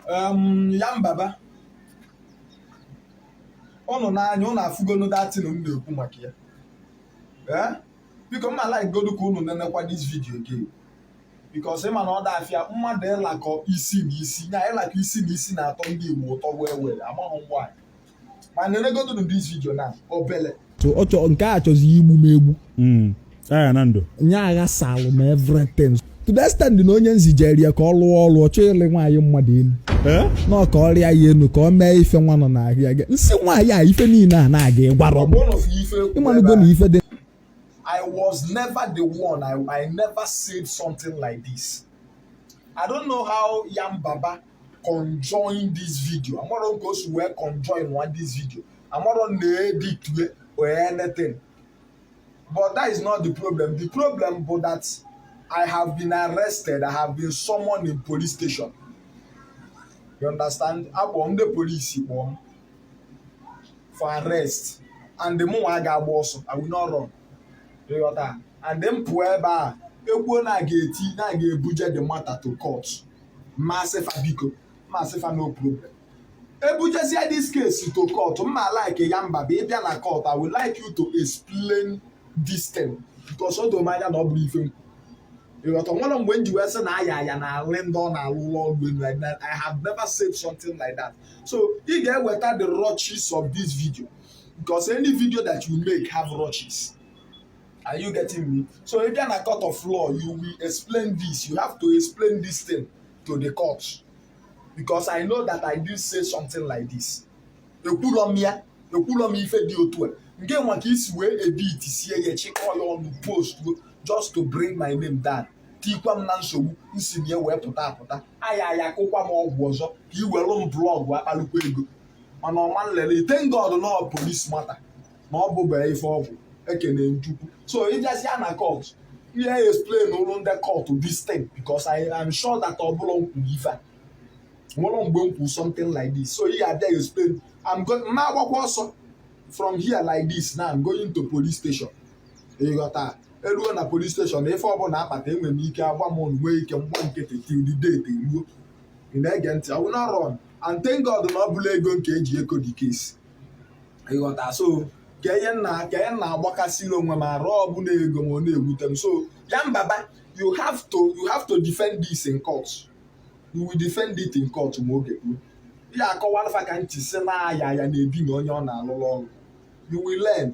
um, Yam Baba ụnụ n'anya ụnụ afụgonu that thing m na-ekwu maka ya ee biko m ma like godu ka ụnụ nenekwa this video again because ị ma na ọ da afịa mmadụ ịlakọ isi na isi ya ịlakọ isi na isi na-atọ ndị Igbo ụtọ wee were amaghị ngwa ma nenegodu this video na obele nke a chọzi igbu m egbu Ayaya Nando nye aghasalụ m everything to the extent na onye m zijere ya ka ọ lụọ ọrụ ọ chọọ ịlị nwaanyị mmadụ elu eh? na ọ ka ọ rịa ya elu ka ọ mee ife nwa nọ n'ahịa gị nsị nwaanyị a ife niile a na-aga ị gwara m ị malụgo na ife dị I was never the one. I, I never said something like this. I don't know how Yam Baba conjoin this video amarọ m ka o si wee conjoin nwa this video amarọ m na ọ edit or anything but that is not the problem the problem bụ that I have been arrested I have been summoned in police station you understand akpọ ndị police kpọọ m for arrest and the mụnwa aga agba ọsọ I will not run ịghọta and m pụọ ebe a ekwuo na a ga-eti na a ga-ebuje the matter to court m asị fa biko m asị fa no problem ebujezie this case to court m ma like Yam Baba ị bịa na court i would like you to explain this thing because o doro m anya na ọ bụrọ ife m ịghọta o nwerọ mgbe m ji wee sị na Ayaya na-alị ndị ọ na-alụlụ ọgwụ elu like that i have never said something like that so ị ga-eweta the rushes of this video because any video that you make have rushes are you getting me so if you are na court of law you will explain this you have to explain this thing to the court because i know that i didn't say something like this ekwulọ m ya ekwulọ m ife dị otu a ngịnwa ka i si wee edit sie ya chịkọọ ya ọnụ post just to bring my name down tikwa m na nsogbu m si na ya wee pụta apụta Ayaya kụkwa m ọgwụ ọzọ ka i were m blog kpalụkwa ego mana ọma nlele I thank God na police matter na ọ bụrọ ife ọgwụ ekene m Chukwu so ị jezie na court ị ya-explainụlụ ndị court this thing because I am sure that ọ bụrọ m kwuru ife a o nwerọ mgbe m kwuru something like this so ị ga-abịa explain agaghị m agbakwa ọsọ from here like this now I'm going to police station ịghọta eruo na police station ife ọbụla akpata enwere m ike agba m nwee ike m gba nkịtị till the date eruo ị na-ege ntị I will not run and thank God na ọ bụrọ ego nke e ji eko the case ịghọta so ka ihe m na ka ihe m na-agbakasịrị onwe m arụ ọ bụrọ ego ma ọ na-ewute m so Yam Baba you have to you have to defend this in court you will defend it in court ma oge ruo ị ya-akọwalụ fa ka m ji sị na Ayaya na-edina onye ọ na-alụrụ ọrụ you will learn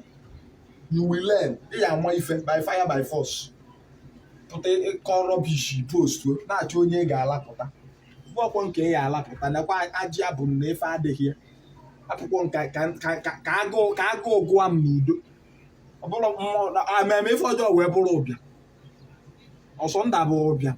you will learn ị ya ama ife by fire by force pụta ịkọ rubbish post na-achọ onye ị ga-alapụta akwụkwọ nke ya alapụta nakwa ajị abụ na efe adịghị ya akwụkwọ ka agụụ gụwa m n'udo ọ bụrụ mụ emee ife ọjọọ wee bụrụ ụbịam ọsọ nda bụ ụbịam